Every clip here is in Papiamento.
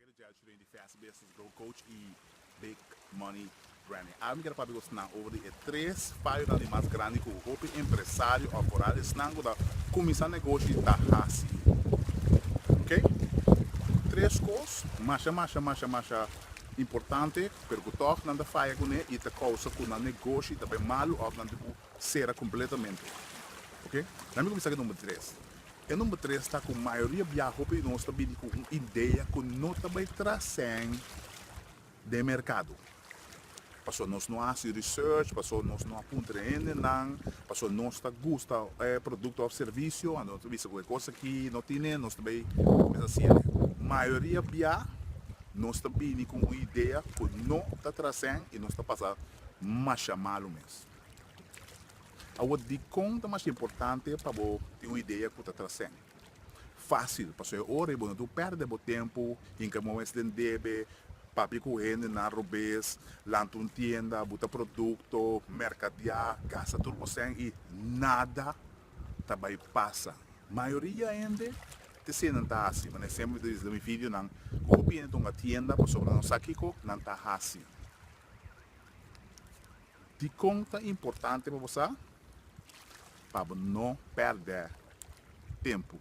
Ake ta djèltje den di Fast Business Grow Coach y Big Money Branding. Ahora mi quiere papia cu esnan over di e tres fallonan di mas grandi cu hopi empresario of vooral esnan cu ta cuminsa negoshi ta haci. Ok? Tres cos masha masha masha masha importante pero cu tog nan ta faya cune y ta causa cu nan negoshi ta bay malu of nan tin cu cera completamente. Ok? Dame cuminsa cu e number tres. E number tres ta ku mayoria bia hopi di nos ta bini ku un idea ku no ta bai trascen den merkado. Paso nos no a hasi research, paso nos no a puntra e hendenan, paso nos ta gusta e produkto òf servisio a nos ta bisa ku e kos aki no tine, nos ta bai kuminsá hasiel. Mayoria bia nos ta bini ku un idea ku no ta trascen i nos ta pasa masha malu mes. Awor, dikon ta mas importante pa bo tin un idea ku ta trasende? Fásil, pasobra e ora i bo no tur pèrdè bo tempu hinka bo mes den debe, papia ku hendenan robes, lanta un tienda, buta produkto, merkadiá, gasta tur bo sèn i nada ta bai pasa. Mayoria hende ta hasié nan ta hasi. Por ehèmpel, mi ta bisa den mi videonan ku hopi hende ta hunga tienda pasobra nan sa kiko nan ta hasi. Dikon ta importante pa bo sa pa bo no pèrdè tempu?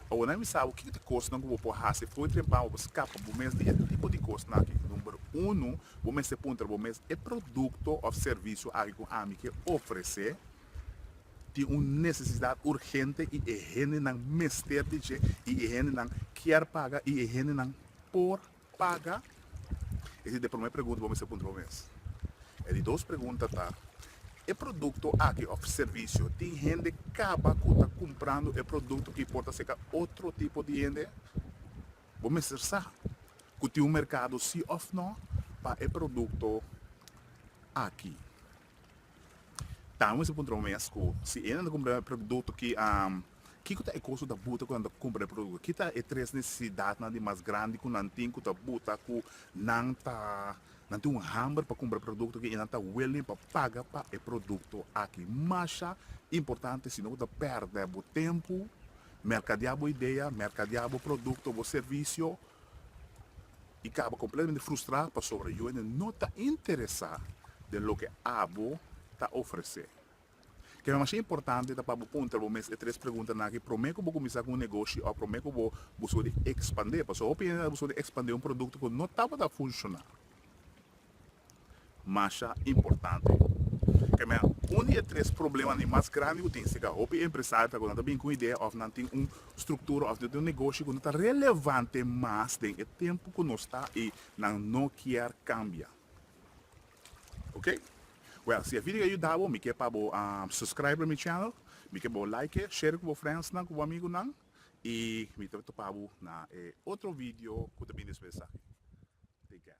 Awe nan bisa bo kiko ta kosnan ku bo por hasi for di tempan pa bo skapa bo mes di e tipo di kosnan aki. Number unu, bo mester puntra bo mes, E produkto òf servisio aki ku ami ke ofresé tin un nesesidat urgente i e hendenan mester di dje i e hendenan kier paga i e hendenan por paga? Esa ta e promé pregunta bo mester puntra bo mes. E di dos pregunta ta, E produkto aki òf servisio tin hende kaba ku ta kumprando e produkto i por ta seka otro tipo di hende? Bo mester sa ku tin un merkado si òf nò pa e produkto aki. Tami mester puntra bo mescu, Si e nan ta kumpra e produkto ki am, kiko ta e kos ku ta buta ku nan ta kumpra e produkto? Ki ta e tres nesesidatnan di mas grandi ku nan tin ku ta buta ku nan ta nan tin un hamber pa kumpra e produkto aki i nan ta willing pa paga pa e produkto aki? Masha importante sino ku ta pèrdè bo tempu merkadea bo idea, merkadea bo produkto, bo servisio. I kaba kompletamente frustrá pasobra yu hende no ta interesá den loke abo ta ofresé. Kico masha importante ta pa bo puntra bo mes e tres preguntanan aki promé ku bo kuminsá ku un negoshi òf promé ku bo buska di ekspandé? Pasobra hopi hende ta buska di ekspandé un produkto ku no tabata funshoná. masha importante. Kemia, un di e tres problemanan mas grandi ku tin si ka hopi empresario ta ku nan ta bini ku un idea òf nan tin un struktura òf nan tin un negoshi ku no ta relevante mas den e tempu ku nos ta i nan no kier kambia. Oke. Wèl, si e video a yuda bo mi ke pa bo subscribe mi channel, mi ke pa bo like e, share e ku bo friendsnan ku bo amigunan i mi ta topa bo na e otro video ku ta bini despues esaki. Take care.